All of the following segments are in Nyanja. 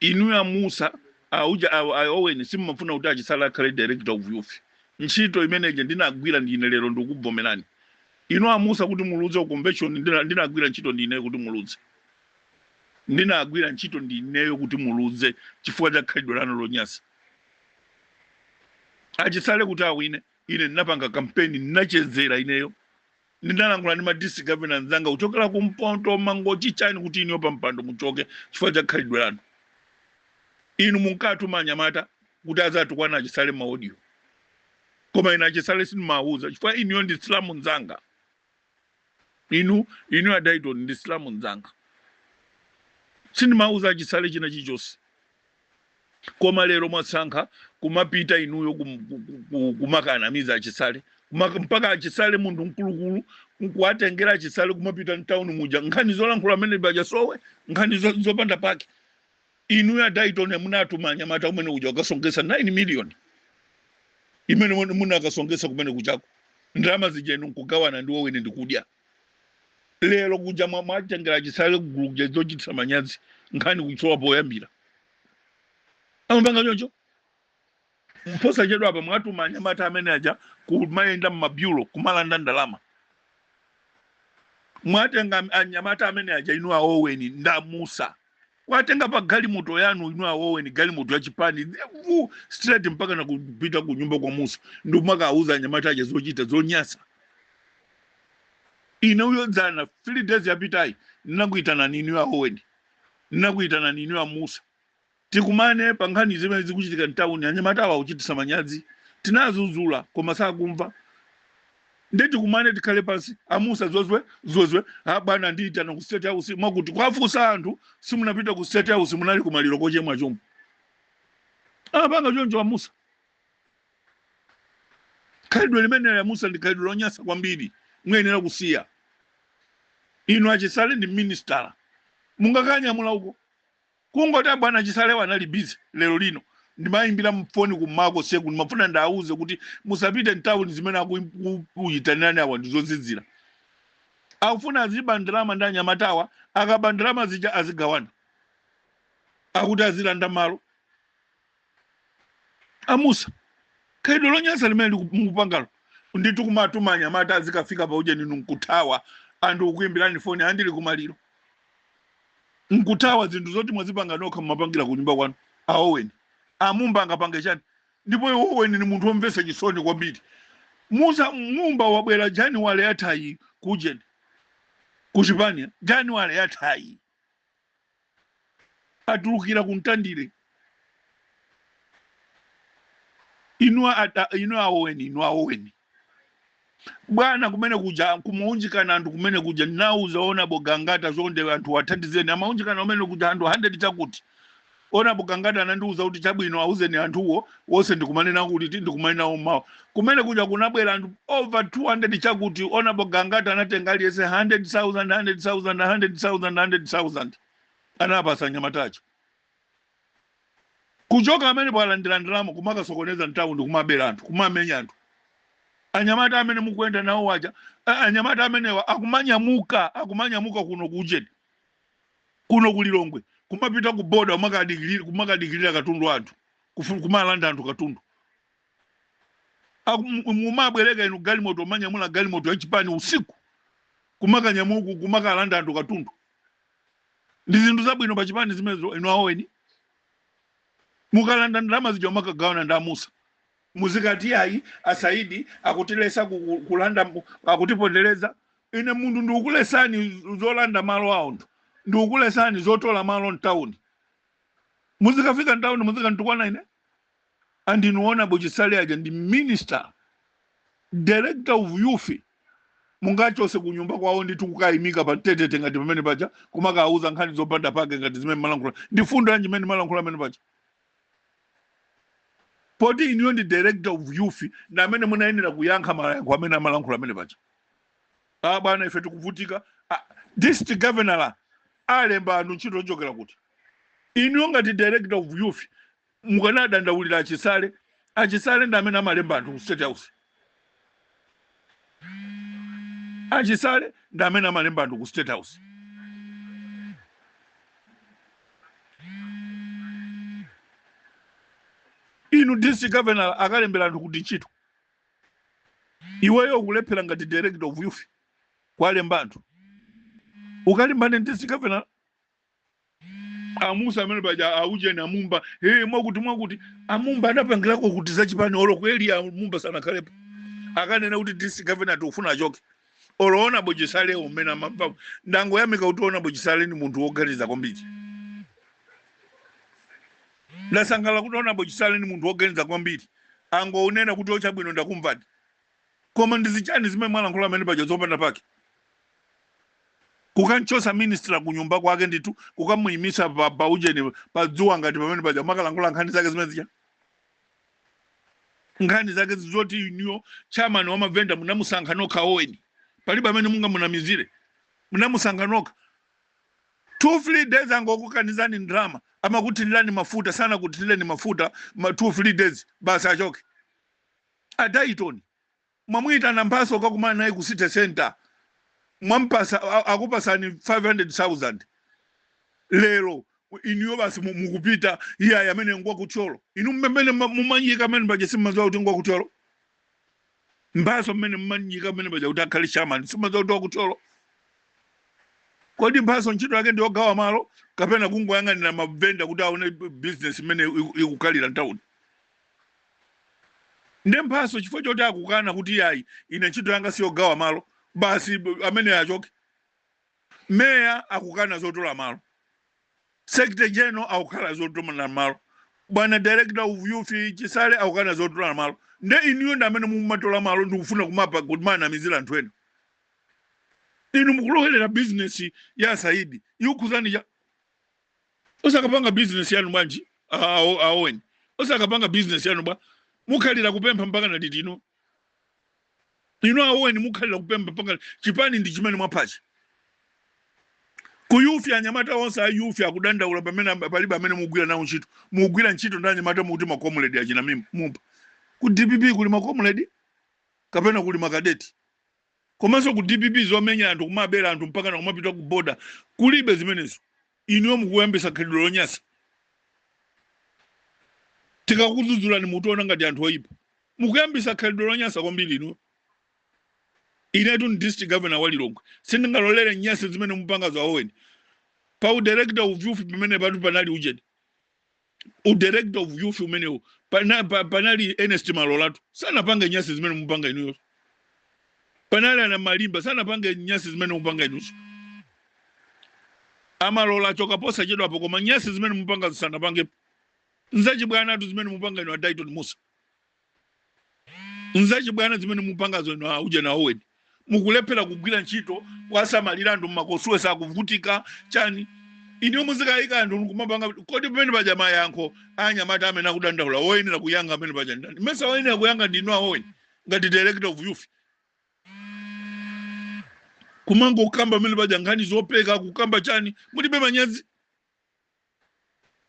Inuyo a Mussa aujeni a, a Owen simumafuna kuti a Chisale akhale director of youth. Ntchito imene ija ndinagwira ndine lero ndikukubvomerani inu a Mussa kuti muludze ku convention ndina, ndinagwira ntchito ndineyo kuti muludze ndinagwira ntchito ndineyo kuti muludze chifukwa cha khalidwe lanu lonyasa. A Chisale kuti awine ine ndinapanga kampeni ndinachezera ineyo Ndinalankhula ndi ma district governor anzanga kuchokera ku mpoto, Mangochi, chani kuti inuyo pa mpando muchoke chifukwa cha khalidwe lanu. Inu munkatuma anyamata kuti azatukwana a Chisale ma audio. Koma ine a Chisale sindimawuza chifukwa inuyo ndi Msilamu nzanga. Inu inuyo a Daiton ndi Msilamu nzanga. Sindimawuza a Chisale china chilichonse. koma lero mwasankha kumapita inuyo kum- ku- ku- ku- kumakanamiza a Chisale Maka- mpaka a Chisale munthu mkulukulu nkuwatengera a Chisale kumapita mtauni muja nkhani zolankhula amene paja asowe nkhani zo- zopanda pake inuyo a Daiton munatuma anyamata kumene kuja kukasonkhesa 9 million imene muna- munakasonkhesa kumene kuchako ndalama zija inu nkugawana ndi Owen ndikudya lero kuja mwa- mwatengera Chisale kugulu kuja zochititsa manyazi nkhani kuisowa poyambira amapanga choncho posachedwa apa mwatuma anyamata amene aja kumayenda mmabyulo kumalanda ndalama mwatenga anyamata amene aja inu a Owen ndi a Mussa kuwatenga pa galimoto yanu inu a Owen galimoto ya chipani vu straight mpaka nakupita ku nyumba kwa Mussa ndikumakawauza anyamata aja zochita zonyasa ineyo dzana three days yapitayi ndinakuitanani inu a Owen ndinakuitanani inu a Mussa tikumane pa nkhani zimene zikuchitika mtawuni anyamata awa akuchitisa manyazi tinawazuzula koma sakumva nde tikumane tikhale pansi a Mussa zozwe zozwe abwana andiyitana ku State House mwakuti kuwafunsa anthu simunapita ku State House munali kumaliro kochemwa chomwe apanga choncho a Mussa khalidwe limeneli a Mussa ndi khalidwe lonyasa kwambiri muyenera kusiya inu a Chisale ndi minister mungakanyamula uko Kungoti a bwana Chisalewa anali busy lero lino ndimaimbira foni ku mmawa konseku ndimafuna ndiwauze kuti musapite mtauni zimene akukuitanirani awa ndizozizira. Akufuna aziba ndalama ndi anyamatawa akaba ndalama zija azigawana. Akuti azilanda malo. a Mussa khalidwe lonyansa limene liku- mukupangalo nditu kumatuma anyamata azikafika pa ujeni inu nkuthawa anthu ukuimbirani foni a ndili kumaliro nkuthawa zinthu zoti mwazipanga nokha mumapangira ku nyumba kwanu a Owen a Mumba angapange chani ndipo iwo Owen ni munthu omvetsa chisoni kwambiri Mussa Mumba wabwera Januwale yathayi kujeni ku chipani Januwale yathayi atulukira ku mtandire inu a- a- inu a Oweni inu a Oweni bwana kumene kuja kumaunjikana anthu kumene kuja nauza Honorable Gangata chonde anthu athandizeni amaunjikana kumene kuja anthu 100 chakuti Honorable Gangata anandiuza kuti chabwino auzeni anthuwo onse ndikumane nawo kuti ndikumane nawo mmawa. Kumene kuja kunabwera anthu over 200 chakuti Honorable Gangata anatenga aliyense 100,000, 100,000, 100,000, 100,000 anapasa anyamata aja. Kuchoka pamenepo alandira ndalama kumakasokoneza mtauni kumabera anthu kumamenya anthu. Anyamata amene mukuyenda nawo aja a- anyamata amenewa akumanyamuka akumanyamuka kuno ku Ujeni. Kuno ku Lilongwe kumapita ku boda kumakadikilira kumakadikilira katundu wa anthu kufuna kumalanda anthu katundu Aku- mu- mumabwereka inu galimoto manyamula galimoto yachipani usiku kumakanyamuka kumakalanda anthu katundu ndi zinthu zabwino pa chipani zimenezo inu a Oweni mukalanda ndalama zija mumakagawana ndi a Musa muzikati ayi a Saidi akutilesa ku- ku- kulanda mu- akutipondereza ine munthu ndikukulesani zolanda malo a anthu ndikukulesani zotola malo mtawuni muzikafika mtawuni muzikantukwana ine and inu Honorable Chisale aja ndi minister director of youth mungachose kunyumba kwawo ndithu kukayimika pa tetete ngati pamene paja kumakawuza nkhani zopanda pake ngati zimene malankhula ndi fundo yanji imene malankhula pamene paja poti inuyo ndi director of youth ndi amene munayenera kuyankha mayankho amene amalankhula amene paja a bwana ife tikuvutika Ah, district governor alemba anthu ntchito ochokera kuti inuyo ngati director of youth mukanadandaulira a Chisale a Chisale ndi amene amalemba anthu ku state house a Chisale ndi amene amalemba anthu ku state house inu district governor akalembera anthu kuti ntchito iweyo ukulephera ngati director of youth kuwalemba anthu ukalimbane ndi district governor a Musa amene paja aujeni a Mumba hey, mwakuti mwakuti a Mumba anapangirako kuti zachipani olo kweli a Mumba sanakhalepo akanena kuti district governor tikufuna achoke olo Honorable Chisale umene amamva ndangoyamika kuti Honorable Chisale ni munthu woganiza kwambiri ndasangala kuti Honorable Chisale ni munthu woganiza kwambiri angounena kuti o chabwino ndakumvani Koma ndi zichani zimene mwalankhula mmene paja zopanda pake? Kukamchotsa minister kunyumba kwake ndithu kukamuyimisa pa, pa ujeni pa dzuwa ngati pamene paja kumakalankhula nkhani zake zimene zija nkhani zake zoti inuyo chairman wa mavenda munamusankha nokha a Owen palibe amene mungamunamizire munamusankha nokha two three days wangokukanizani ndrama amakuthirirani mafuta sanakuthireni mafuta ma two three days basi achoke A Dayton mwamuitana Mphatso kukakumana naye ku city centre mwampatsa wakupatsani 500,000 lero inuyo basi mukupita iyayi amene ngwa ku Thyolo inu mmene mumanyika mmene paja simmadziwa kuti ngwa ku Thyolo Mphatso mmene mmanyika mmene paja kuti akhale chairman simmadziwa kuti wa ku Thyolo kodi Mphatso ntchito yake ndi yogawa malo kapena kungoyang'anira mavenda kuti aone business mmene ikukhalira mtawuni nde Mphatso chifukwa choti akukana kuti yayi ine ntchito yanga siyogawa malo basi b- amene achoke meya akukana zotola malo secretary general akukana zotola malo bwana director of youth Chisale akukana zotola malo nde inuyo ndi amene mumatola malo ndikufuna kumapa kuti mumanamizira anthu ena inu mukulowerera business ya Saidi ikukhuzani cha osakapanga business yanu bwanji a- a- a- a Owen osakapanga business yanu bwa mukhalira kupempha mpaka na liti ino inu a Owen mukhalira kupempha mpaka chipani ndi chimene mwaphachi ku youth anyamata onse a youth akudandaula pamene am- palibe amene mugwira nawo ntchito mugwira ntchito ndi anyamata mukuti makomuledi achina mim- Mumba ku DPP kuli makomuledi kapena kuli makadeti Komanso ku DPP zomenya anthu kumabera anthu mpakana kumapita ku border kulibe zimenezo inuyo mukuyambisa khalidwe lonyasa tikakudzudzulani mukutiona ngati anthu oyipa mukuyambisa khalidwe lonyasa kwambiri inuyo inetu ndi district governor wa Lilongwe sindingalolere nyasi zimene mupangazo a Owen pa udirector of youth pamene patu panali ujeni u director of youth umenewu pana, pa, panali Ernest Malolatu sanapange nyasi zimene mupanga inuyo panali a Namalimba sanapange nyasi zimene mupanga inuyo a Malola achoka posachedwapa koma nyasi zimene mupangazi sanapange nzachibwanatu zimene mupanga inu a Dayton Musa nzachibwana zimene mupangazo inu a ujeni a Owen mukulephera kugwira ntchito kuwasamalira anthu ma constituency akuvutika chani inuyo muzikayika anthu kumapanga kodi pamene paja mayankho anyamata amene akudandaula woyenera kuyankha amene paja ndi ndani mesa woyenera kuyankha ndinu a Owen ngati director of youth kumangokamba pamene paja nkhani zopeka kukamba chani mulibe manyazi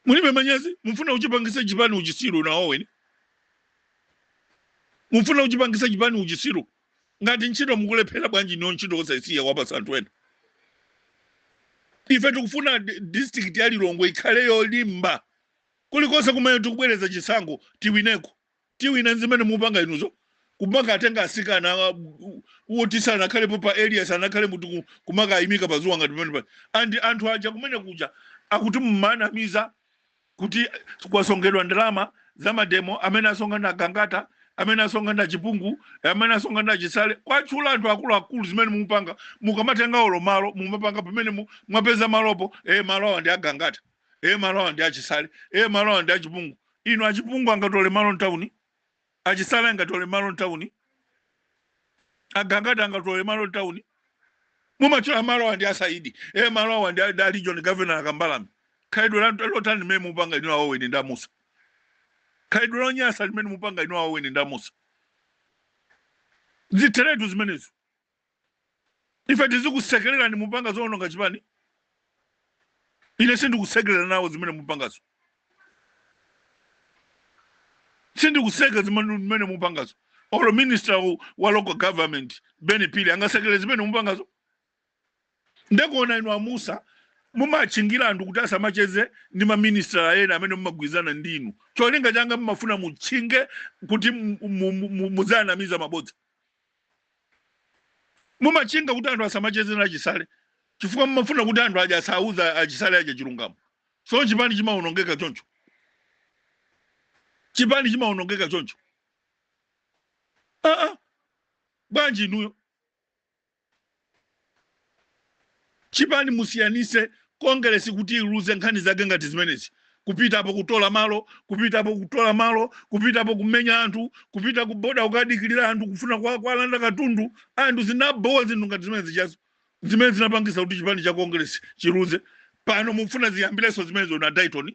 mulibe manyazi mufuna kuchipangisa chipani uchisiru nawoweni mufuna kuchipangisa chipani uchisiru ngati ntchito mukulephera bwanji niyo ntchito osaisiya kuwapatsa anthu ena ife tikufuna di- district ya lilongwe ikhale yolimba kulikonse kumene tikubwereza chisankho tiwineko Tiwina zimene mupanga inuzo kumaka tenga asikana woti sanakhalepo pa area sanakhale m'mutu kumakawayimika pa zuwa ngati pamenepa anthu aja kumene kuja akuti mumanamiza kuti kwasongedwa ndalama za mademo amene asonga nda gangata amene asonga nda chipungu amene asonga nda chisale kuwatchula anthu akuluakulu zimene mumapanga mukamatenga olo malo mumapanga pamene mwapeza malopo e eh, malo awa ndi agangata e eh, malo awa ndi achisale e malo awa ndi achipungu Inu achipungu angatole malo mtauni, achisale angatole malo mtauni, agangata angatole malo mtauni. Mumatchula malo awa ndi asaidi e malo awa ndi a regional governor akambalame. Khalidwe lotani limene mupanga inu a Oweni ndi amusa. Khalidwe lonyasa limene mupanga inu a Oweni ndi amusa. Zitheretu zimenezo. ife tizikusekererani mupanga zoononga chipani ine sindikusekerera nawo zimene mupangazo sindikusekerera zimene mupangazo olo minister wa- wa local government ben phiri angasekerere zimene mupangazo nde kuona inu amusa mumatchingira anthu kuti asamacheze ndi maministra ena amene mumagwirizana ndi inu cholinga chake mumafuna mutchinge kuti mu- mu- mu- mu- muzianamiza mabodza mumatchinga kuti anthu asamacheze na achisale chifukwa mumafuna kuti anthu aja asawauze achisale aja chilungamo so chipani chimaonongeka choncho chipani chimaonongeka choncho aa bwanji inuyo Chipani musiyanitse Kongeresi kuti iluze nkhani zake ngati zimenezi, kupitapo kutola malo, kupitapo kutola malo, kupitapo kumenya anthu, kupita ku boda kukadikilira anthu kufuna kuwalanda katundu anthu zinabowa zinthu ngati zimenezijazo zimene zinapangisa kuti chipani cha Kongeresi chiluze pano mufuna ziyambileso zimenezo na Dyton?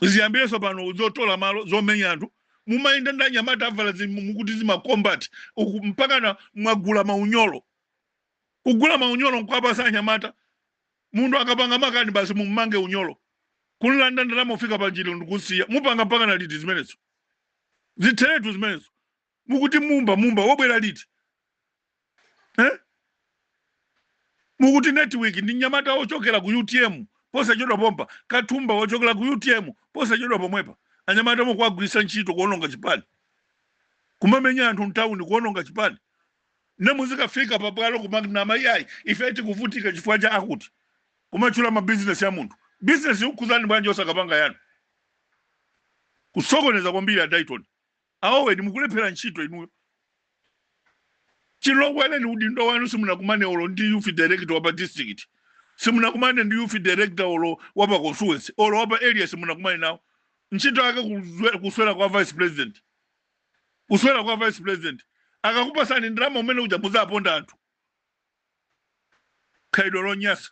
ziyambireso pano zotola malo zomenya anthu mumayenda ndi anyamata avala zi- mu- mukuti zimacombat mpakana mwagula maunyolo kugula maunyolo nkwapasa anyamata munthu akapanga makani basi mummange unyolo kumulanda ndalama kufika panjira ndikumusiya mupanga mpakana liti zimenezo zitheretu zimenezo mukuti mumba mumba wobwera liti eh? mukuti network ndi mnyamata wochokera ku utm posachedwa pompa kathumba wochokera ku utm posachedwa pomwepa anyamata mukuwagwiritsa ntchito kuononga chipani kumamenya anthu mtawuni kuononga chipani ne muzikafika pabwalo kumanama iyayi ife tikuvutika chifukwa cha akuti kumatchula mabizinesi a munthu bizinesi ikukhudzani bwanji osakapanga yanu kusokoneza kwambiri a Dayton A weni mukulephera ntchito inuyo chiloweleni udindo wanu simunakumane olo ndi youth director wapa district simunakumane ndi youth director olo wapa constituency olo wapa area simunakumane nawo ntchito yake kuzwe- kuswera kwa vice president kuswera kwa vice president akakupatsani ndalama umene uja muzaponda anthu khalidwe lonyasa